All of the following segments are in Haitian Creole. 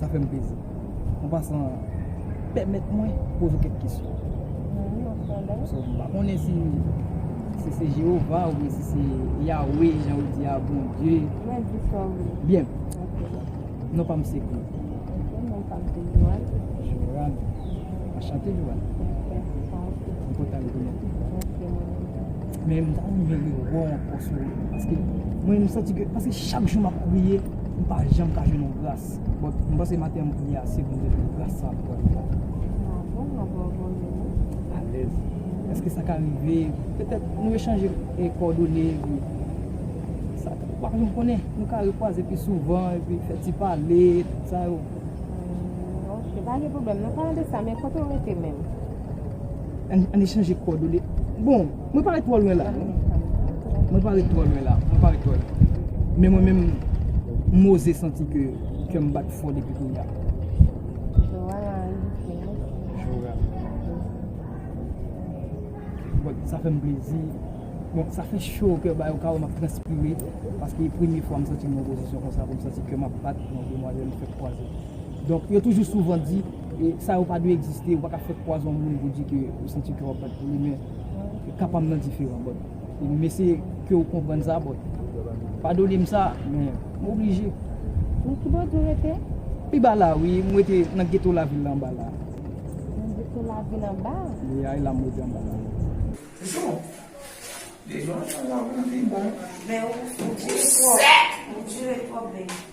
Sa fèm plezi. An pasan, pèmèt mwen poze kèk kesyon. Mwen esi se se Jehova ou esi se Yahweh, jan ou di a, bon Dieu. Mwen di sa ou. Bien. Non pa mse kou. Non pa mse Johan. Johan. Mwen chante Johan. Mwen kontan de konnen. Men m ta renmen rewe w anko sou paske mwen m santi ke paske chak jou map priye m pa janm ka jwenn yon gras but m panse maten an m priye ase pou m te jwenn gras sa ankò yon fwa. Bravo m anvo anvo w jwenn li. Alèz. Eske sa ka rive petèt nou echanje kòdone epi sa ka pa janm konnen nou ka rekwaze pi souvan epi fè ti pale tout sa yo. Ok pa gen pwoblèm nou pale de sa men kote w rete menm? An n echanje kòdone. Bon, mwen pa ret twò lwen la. Mwen pa ret twò lwen la. Mwen pa ret twò lwen. Men mwen menm, m oze santi ke kè m bat fò depi kounye a. Jora. Bon, sa fè m plezi. Bon, sa fè cho o kè, bay o ka wè m ap transpire. Paske e premye fwa m santi m nan yon pozisyon konsa pou m santi kè m ap bat pou yon demwazèl m fèk kwaze. Donk, yo toujou souvan di. E sa yo pa dwe egziste, ou pa ka fè pwazon moun pou di ke ou santi ke wap bat pou li men ka pam nan diferan bòt. E m eseye ke ou konprann sa bòt. Padone m sa, men m oblije. Nan ki bòt ou rete? Pi ba la wi, m rete nan geto lavil la anba la. Nan geto lavil anba? Wi a, e la m rete anba la wi. Jou! Devan sa wap pi bon. Men ou dire twòp, ou dire twòp baby.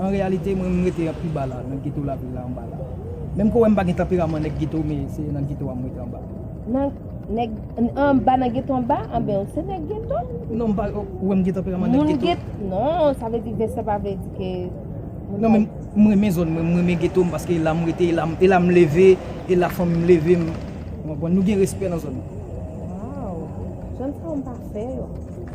An reyalite mwen m rete pi ba la nan geto lavil la anba la. Menm ke w wè m pa gen tanperaman nèg geto men se nan geto a m rete anba. Nan nèg anba nan geto anba? Anben w se nèg geto? Non m pa wè m gen tanperaman nèg geto. Moun get non sa vle di vès la pa vle di ke Non men m renmen zòn mwen, m renmen geto m paske e la m rete, e la m leve, e la fanmi m leve m. Ou konprann? Nou gen respè nan zòn nan. Waww! Zòn sa w m pa fè yo.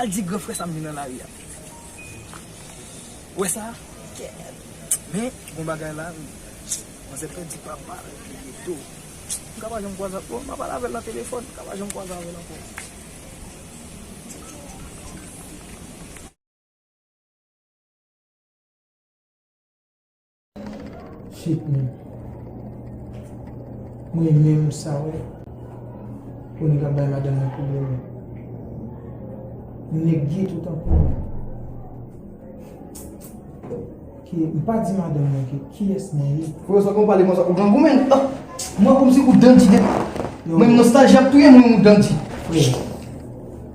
Al di gran frè sa m vin nan lari a. Ou wè sa? Men, gon bagay la wi. Manzè pèdi papa l, li gen do. M ka pa janm kwaze ak. Bon, m a pale avè l nan telefòn, m ka pa janm kwaze avè l ankò. Shit men. Mwen menm sa wè. Pou nèg ap bay madanm nan pwoblèm yo. Nèg gye tou tankou mwen. Ki, m pa di madanm nan ki, ki es mwen ye? Pou yo sa kon pale konsa, ou grangou men. Mwen kòm si ou dandi de. Mwen nostalji ap touye mwen ou dandi. Frè.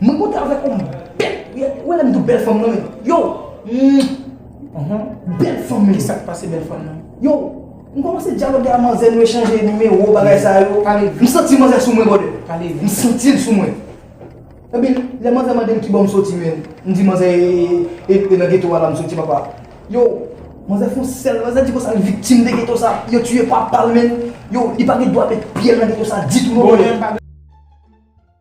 Mwen kontan avèk ou m bèl ou wè lèm diw bèl fanm nan yow humm bèl fanm men kisak pase bèl fanm nan yow m kòmanse dyaloge a manzè nou echanje nimewo bagay sa yo m santi manzè sou mwen bròdè m santil sou mwen epi lè manzè mandem kibò m soti menm m di manzè e nan geto a la m soti papa yow manzè fon sèl manzè di konsa l viktim de geto sa yo tiye papal menm yow li pa gen dwa met pyel nan geto sa ditou non mwen.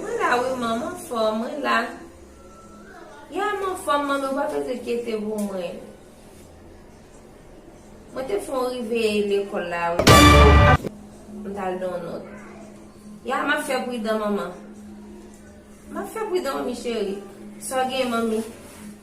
Mwen la wi mom anfom mwen la. Yeah m anfom mami ou pa beze kyete pou mwen. Mwen te fon rive lekol la wi pou m tal don not. Yeah map fe pridan mama. Map fe pridan mami cheri. Sa w gen mami?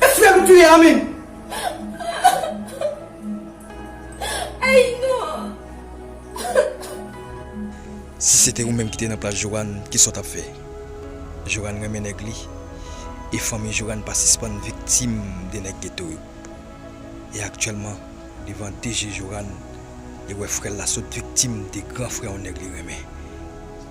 Eske tu vle tuye an menm? Ayy non. Si se te ou menm ki te nan plas Johan ki sa w tap fè? Johan renmen nèg li e fanmi Johan pa sispann viktim de nèg geto yo. E aktyèlman devan de je Johan li wè frè l la sot viktim de gran frè yon nèg li renmen.